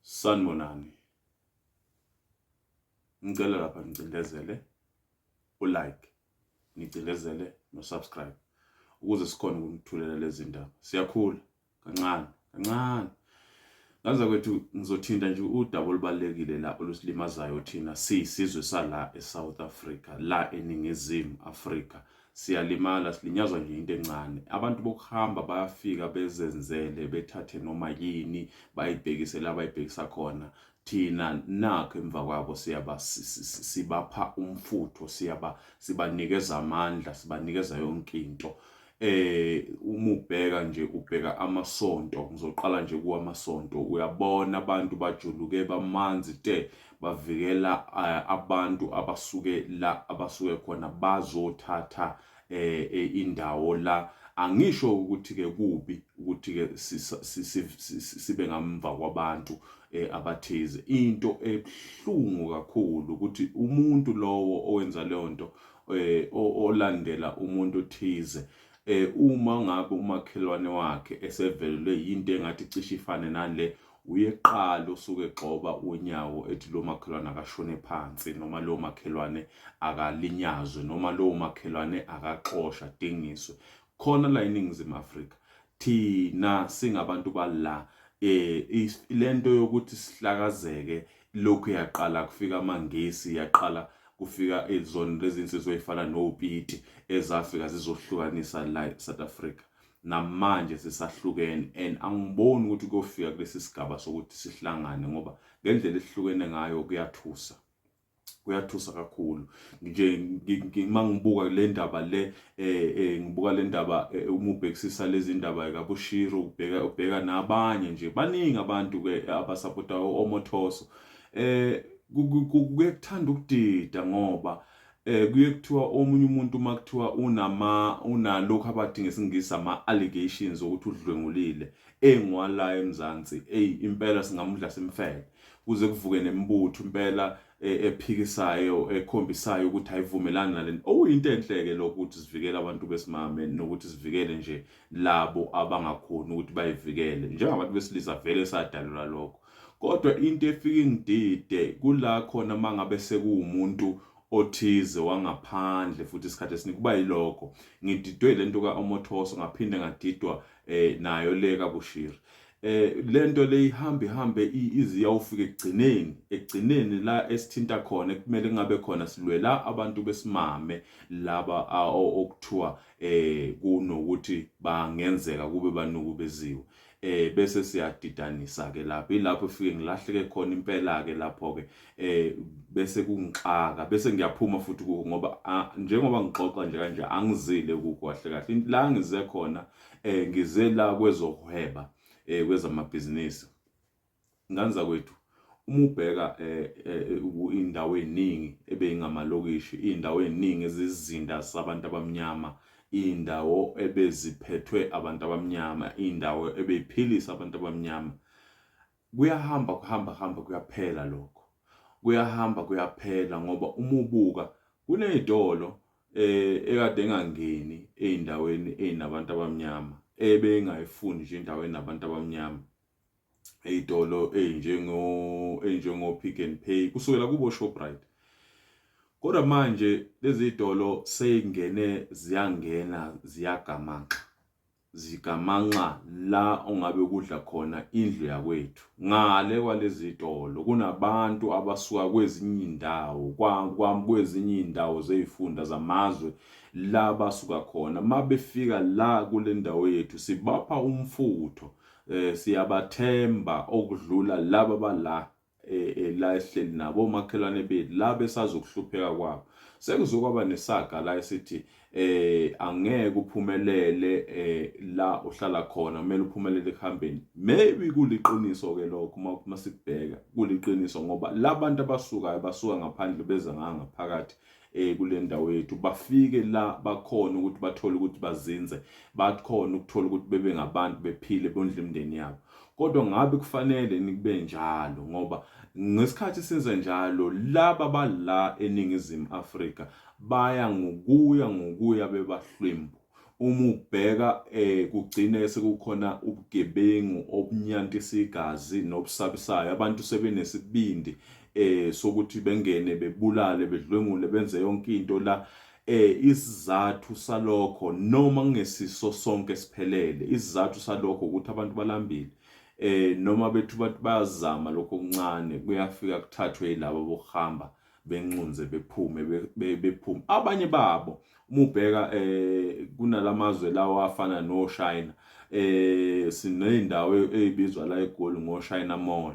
Sanibonani. Ngicela lapha ngicindezele u-like, ngicindezele no-subscribe ukuze sikhone ukunithulela lezi ndaba. Siyakhula kancane kancane. Ngaza kwethu ngizothinta nje udaba olubalekile la olusilimazayo thina siyisizwe sala eSouth Africa la eningizimu Africa siyalimala silinyazwa nje into encane abantu bokuhamba bayafika bezenzele bethathe noma yini bayibhekise la bayibhekisa khona thina nakho emva kwabo siyaba sibapha umfutho siyaba sibanikeza amandla sibanikeza yonke into eh uma ubheka nje ubheka amasonto ngizoqala nje kuwamasonto uyabona abantu bajuluke bamanzi te bavikela eh, abantu abasuke la abasuke khona bazothatha eh, eh, indawo la angisho ukuthi ke kubi ukuthi ke sibe ngamva kwabantu abathize into ebuhlungu kakhulu ukuthi umuntu lowo owenza leyo nto olandela umuntu othize eh uma ngabe umakhelwane wakhe esevelelwe yinto engathi cishe ifane nale uye kuqala osuke egxoba unyawo ethi lo makhelwane akashone phansi noma lo makhelwane akalinyazwe noma lo makhelwane akaxoshwa adingiswe khona la eningizimu afrika thina singabantu bala eh lento yokuthi sihlakazeke lokhu yaqala kufika amangisi yaqala kufika izona lezi nsizwa ezifana nopiti ezafika zizohlukanisa la eSouth Africa namanje sisahlukene and angiboni ukuthi kuyofika kulesi sigaba sokuthi sihlangane ngoba ngendlela esihlukene ngayo kuyathusa kuyathusa kakhulu nje ngima ngibuka le ndaba le eh, eh ngibuka le ndaba eh, uma ubhekisisa lezi ndaba kabushiro ubheka ubheka nabanye nje baningi abantu ke abasapota omothoso eh kukuthanda ukudida ngoba eh kuye kuthiwa omunye umuntu uma kuthiwa unama unalokho abathi ngesingisi ama allegations ukuthi udlwengulile engwala eMzansi ey impela singamudla simfele kuze kuvuke nemibutho impela eh, ephikisayo ekhombisayo ukuthi ayivumelani nalento okuyinto oh, enhle ke lokho ukuthi sivikele abantu besimame nokuthi sivikele nje labo abangakhoni ukuthi bayivikele njengabantu besilisa vele sadalula lokho Kodwa into efike ingidide kula khona mangabe sekuwumuntu othize wangaphandle futhi isikhathi esiningi kuba yilokho ngididwe le nto ka-omothoso ngaphinde ngadidwa um eh, nayo le kabushiri eh lento leyihamba ihambe iziya ufika ekugcineni ekugcineni la esithinta khona kumele kungabe khona silwela abantu besimame laba okuthiwa eh kunokuthi bangenzeka kube banukubeziwe eh bese siyadidanisa ke lapho ilapho efike ngilahleke khona impela ke lapho ke eh bese kungixaka bese ngiyaphuma futhi kuko ngoba njengoba ngixoxa nje kanje angizile kuko kahle kahle la ngize khona eh ngize la kwezohweba eh kwezamabhizinisi Ngane zakwethu uma ubheka eh, eh, eh, indawo eziningi ebeyingamalokishi indawo eziningi ezizinda sabantu abamnyama indawo ebeziphethwe abantu abamnyama indawo ebeyiphilisa abantu abamnyama kuyahamba kuhamba hamba kuyaphela lokho kuyahamba kuyaphela ngoba uma ubuka kunezitolo eh ekade engangeni ezindaweni ezinabantu abamnyama ebengayifuni nje indawo enabantu abamnyama ey'tolo ey'njengo ey'njengo-pick and pay kusukela kubo-shoprite kodwa manje lezi y'tolo sey'ngene ziyangena ziyagamanxa zigamanxa la ongabe kudla khona indlu yakwethu ngale kwalezi y'tolo kunabantu abasuka kwezinye iy'ndawo kwezinye iy'ndawo zey'funda zamazwe la basuka khona uma befika la kule ndawo yethu sibapha umfutho eh siyabathemba okudlula laba bala eh, eh, la ehleli nabo omakhelwane bethu la besazokuhlupheka kwabo sekuzokwaba nesaga la esithi eh angeke uphumelele eh la uhlala khona kumele uphumelele ekuhambeni maybe kuliqiniso ke lokho uma uma sikubheka kuliqiniso ngoba labantu abasukayo basuka ngaphandle beza ngaphakathi eh kule ndawo yethu bafike la bakhona ukuthi bathole ukuthi bazinze bakhona ukuthola ukuthi bebe ngabantu bephile bondle imindeni yabo kodwa ngabe kufanele nikube njalo ngoba ngesikhathi senza njalo laba bala eningizimu Afrika baya ngokuya ngokuya bebahlwembu uma ubheka eh kugcine sekukhona ubugebengu obunyantisa igazi nobusabisayo abantu sebenesibindi eh sokuthi bengene bebulale bedlwengule benze yonke into la eh isizathu salokho noma kungesiso sonke siphelele isizathu salokho ukuthi abantu balambile eh noma bethu bathi bayazama lokho okuncane kuyafika kuthathwe yilabo bokuhamba benxunze bephume bephume abanye babo uma ubheka eh kunalamazwe lawa afana no China eh sineyindawo ezibizwa la eGoli ngo China Mall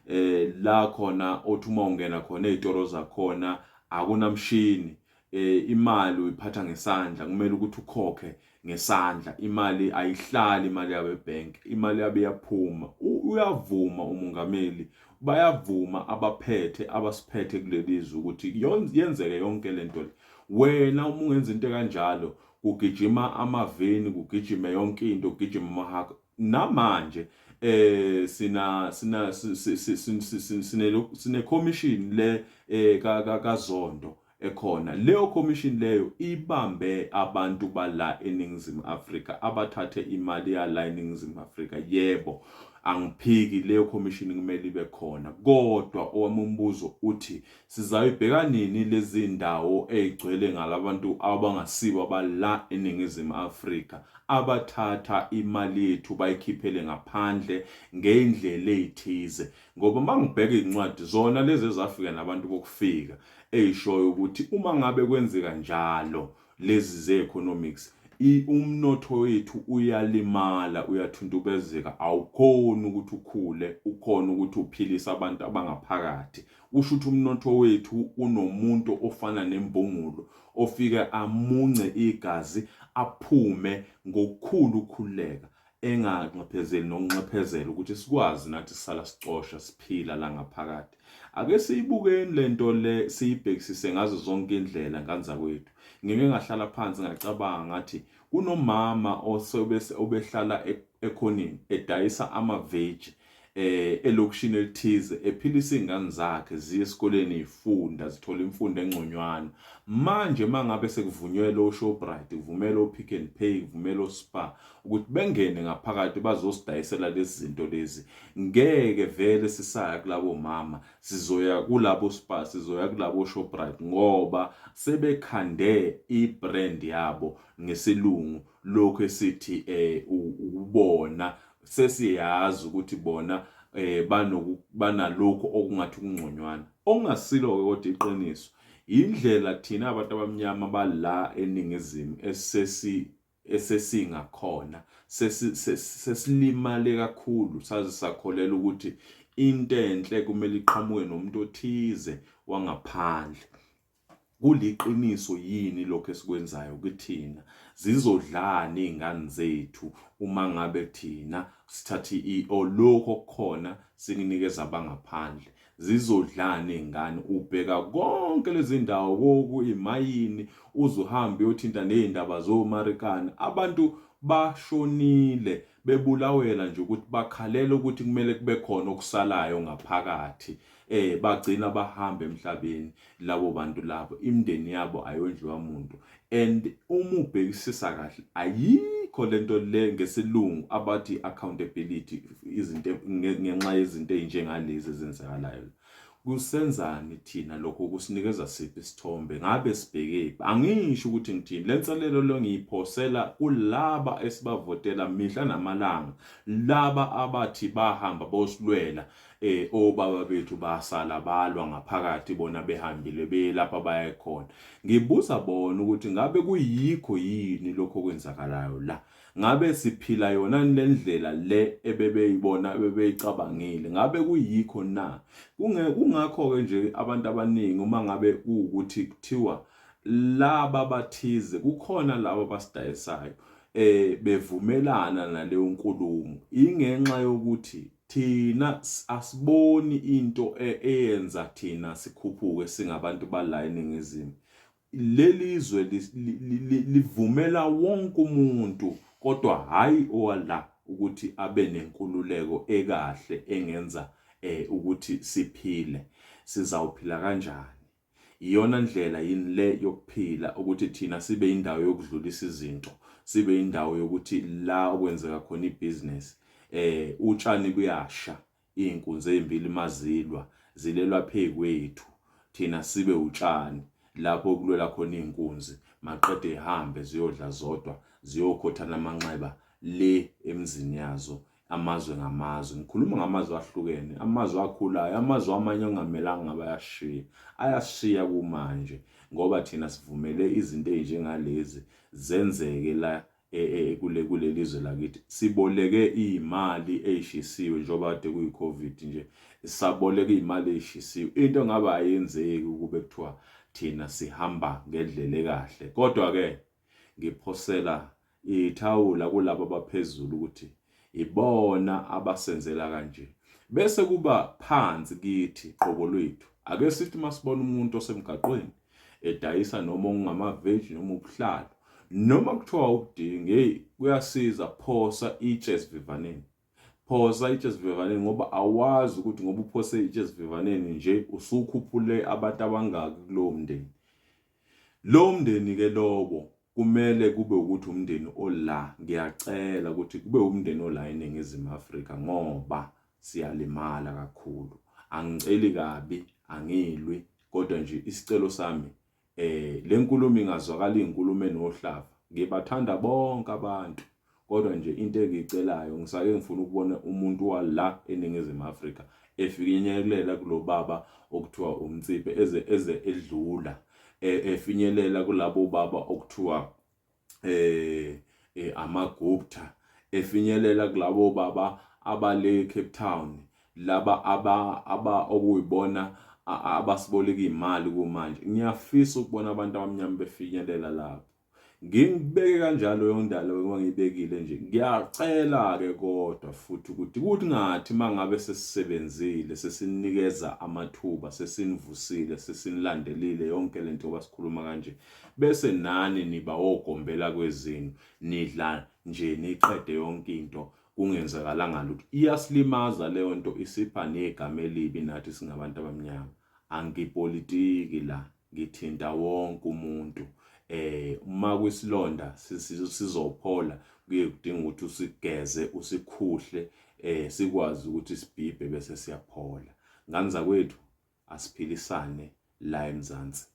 eh la khona othi uma ungena khona ezitoro zakhona akunamshini eh imali uyiphatha ngesandla kumele ukuthi ukhokhe ngesandla imali ayihlali imali yabe bank imali yabe yaphuma uyavuma umongameli bayavuma abaphethe abasiphethe kulelizwe ukuthi yenzeke yonke lento le wena uma ungenza into kanjalo kugijima amaveni kugijime yonke into kugijima amahaka namanje eh sina sina sine commission le eh, kaZondo ekhona. Leyo khomishini leyo ibambe abantu bala eNingizimu Afrika abathathe imali yala eNingizimu Afrika. Yebo, angiphiki leyo khomishini kumele ibe khona. Kodwa owami umbuzo uthi sizayibheka nini lezi ndawo ey'gcwele ngalabantu abangasibo abala eNingizimu Afrika abathatha imali yethu bayikhiphele ngaphandle ngey'ndlela ey'thize. Ngoba uma ngibheka iy'ncwadi zona lezi ezafika nabantu bokufika eyishoyo ukuthi uma ngabe kwenzeka njalo lezi ze-economics umnotho wethu uyalimala uyathuntubezeka awukhoni ukuthi ukhule ukhona ukuthi uphilise abantu abangaphakathi usho ukuthi umnotho wethu unomuntu ofana nembungulu ofike amunce igazi aphume ngokukhulu ukukhululeka enganxephezeli nokunxephezela ukuthi sikwazi nathi sisala sicosha siphila la ngaphakathi ake siyibukeni lento le siyibhekisise ngazo zonke indlela nganza kwethu ngike ngahlala phansi ngacabanga ngathi kunomama osebehlala e-, ekhoneni edayisa amaveji eh elokishini elithize ephilisa izingane zakhe ziye esikoleni ifunda zithola imfundo engconywana manje mangabe sekuvunyelwe oShoprite kuvumela oPick and Pay kuvumela oSpar ukuthi bengene ngaphakathi bazosidayisela lezi zinto lezi ngeke vele sisaya kulabo mama sizoya kulabo Spar sizoya kulabo Shoprite ngoba sebekhande ibrand yabo ngesilungu lokho esithi eh ubona sesiyazi ukuthi bona eh banoku banalokho okungathi kungconywana okungasilo ke kodwa iqiniso indlela thina abantu abamnyama bala eningizimu esesi esesinga khona sesilimale kakhulu saze sakholela ukuthi into enhle kumele iqhamuke nomuntu othize wangaphandle Kuliqiniso yini lokho esikwenzayo kithina? Zizodlani iy'ngane zethu uma ngabe thina sithathe i-o lokho okukhona sikunikeza abangaphandle? Zizodlani iy'ngane? Ubheka konke lezi ndawo koku imayini uze uhambe uyothinta ney'ndaba zomarikana. Abantu bashonile bebulawela nje ukuthi bakhalela ukuthi kumele kube khona okusalayo ngaphakathi eh bagcina bahamba emhlabeni labo bantu labo imndeni yabo ayondliwa muntu and uma ubhekisisa kahle ayikho lento le ngesilungu abathi accountability izinto ngenxa yezinto ezinjengalezi ezenzakalayo kusenzani thina lokho kusinikeza siphi isithombe ngabe sibhekephi angisho ukuthi ngithini le nselelo lo ngiyiphosela kulaba esibavotela mihla namalanga laba abathi bahamba bosilwela eh obaba bethu basala balwa ngaphakathi bona behambile belapha bayekhona ngibuza bona ukuthi ngabe kuyikho yini lokho kwenzakalayo la ngabe siphila yona lendlela le ebebeyibona ebebeyicabangile ngabe kuyikho na kunge kungakho ke nje abantu abaningi uma ngabe ukuthi kuthiwa laba bathize kukhona laba basidayisayo eh bevumelana naleyo nkulumo ingenxa yokuthi Thina asiboni into e, eyenza thina sikhuphuke singabantu bala eningizimu. Lelizwe livumela wonke umuntu kodwa hayi owala ukuthi abe nenkululeko ekahle engenza eh ukuthi siphile. Sizawuphila kanjani? Iyona ndlela yini le yokuphila ukuthi thina sibe indawo yokudlulisa izinto, sibe indawo yokuthi la okwenzeka khona ibhizinesi eh utshani kuyasha izinkunzi ezimbili mazilwa zilelwa phekwethu thina sibe utshani lapho okulwela khona izinkunzi maqede ihambe ziyodla zodwa ziyokhothana amanxeba le emzini yazo amazwe ngamazwe ngikhuluma ngamazwe ahlukene amazwe akhulayo amazwe amanye ongamelanga bayashiya ayashiya kumanje ngoba thina sivumele izinto ezinjengalezi zenzeke la e, e, e, kule kuleli zwe lakithi siboleke imali eyishisiwe njengoba kade kuyi covid nje saboleka imali eyishisiwe into ngaba ayenzeki ukube kuthiwa thina sihamba ngendlela ekahle kodwa ke Ngiphosela ithawula kulabo abaphezulu ukuthi ibona abasenzela kanje. Bese kuba phansi kithi qobo lwethu. Ake sithi masibona umuntu osemgaqweni edayisa noma ungamaveji noma ubuhlalo noma kuthiwa ukudinga hey kuyasiza phosa itshe esivivaneni phosa itshe esivivaneni ngoba awazi ukuthi ngoba uphose itshe esivivaneni nje usukhuphule abantu abangaki kulowo mndeni Lowo mndeni ke lowo kumele kube ukuthi umndeni ola ngiyacela ukuthi kube umndeni ola eningizimu Afrika ngoba siyalimala kakhulu angiceli kabi angilwi kodwa nje isicelo sami eh lenkulumo ingazwakala inkulumo enohlavu ngibathanda bonke abantu Kodwa nje into engiyicelayo ngisake ngifuna ukubona umuntu wala eNingizimu Afrika efinyelela kulobaba okuthiwa umtsiphe eze eze edlula e, efinyelela kulabo baba okuthiwa eh, eh amagupta efinyelela kulabo baba abale Cape Town laba aba aba okuyibona abasiboleka imali kumanje ngiyafisa ukubona abantu abamnyama befinyelela lapho ngingibeke kanjalo yondalo engangibekile nje ngiyacela ke kodwa futhi ukuthi kuthi ngathi mangabe sesisebenzile sesinikeza amathuba sesinivusile sesinilandelile yonke lento basikhuluma kanje bese nani niba ogombela kwezini nidla nje niqede yonke into kungenzakalanga lutho iyasilimaza leyo nto isipha negama elibi nathi singabantu abamnyama angipolitiki la ngithinta wonke umuntu eh uma kwisilonda sizophola kuye kudinga ukuthi usigeze usikhuhle eh sikwazi ukuthi sibhibhe bese siyaphola ngane zakwethu asiphilisane la eMzansi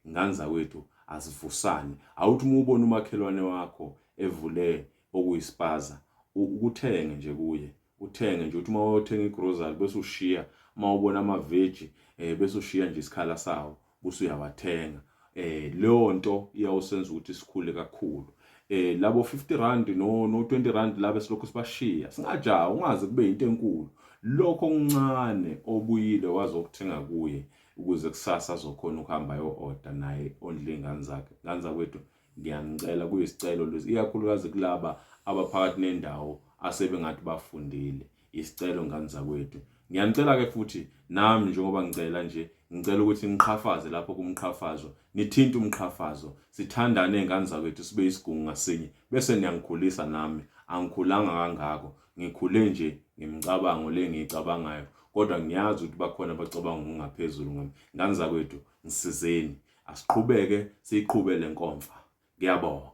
ngane zakwethu asivusane awuthi uma ubona umakhelwane wakho evule okuyisipaza ukuthenge nje kuye uthenge nje uthi uma wayothenga igrocery bese ushiya uma ubona amaveji um eh, bese ushiya nje isikhala sawo buse uyawathenga eh leyo nto iyawusenza ukuthi sikhule kakhulu eh labo 50 rand no no 20 rand labe silokhu sibashiya singajaha ungaze kube into enkulu lokho okuncane obuyile wazokuthenga kuye ukuze kusasa azokhona ukuhamba yo order naye ondle ingane zakhe ngani zakwethu Ngiyanicela kuyisicelo lesi ikakhulukazi kulaba abaphakathi nendawo asebengathi bafundile. Isicelo ngani zakwethu. Ngiyanicela ke futhi nami njengoba ngicela nje ngicela ukuthi niqhafaze lapho kumqhafazo nithinte umqhafazo sithandane ngani zakwethu sibe isigungu ngasinye bese niyangikhulisa nami angikhulanga kangako ngikhule nje ngimcabango le ngiyicabangayo kodwa ngiyazi ukuthi bakhona abacabanga ngokungaphezulu ngami ngani zakwethu Ngisizeni asiqhubeke siyiqhube lenkomfa. Ngiyabonga.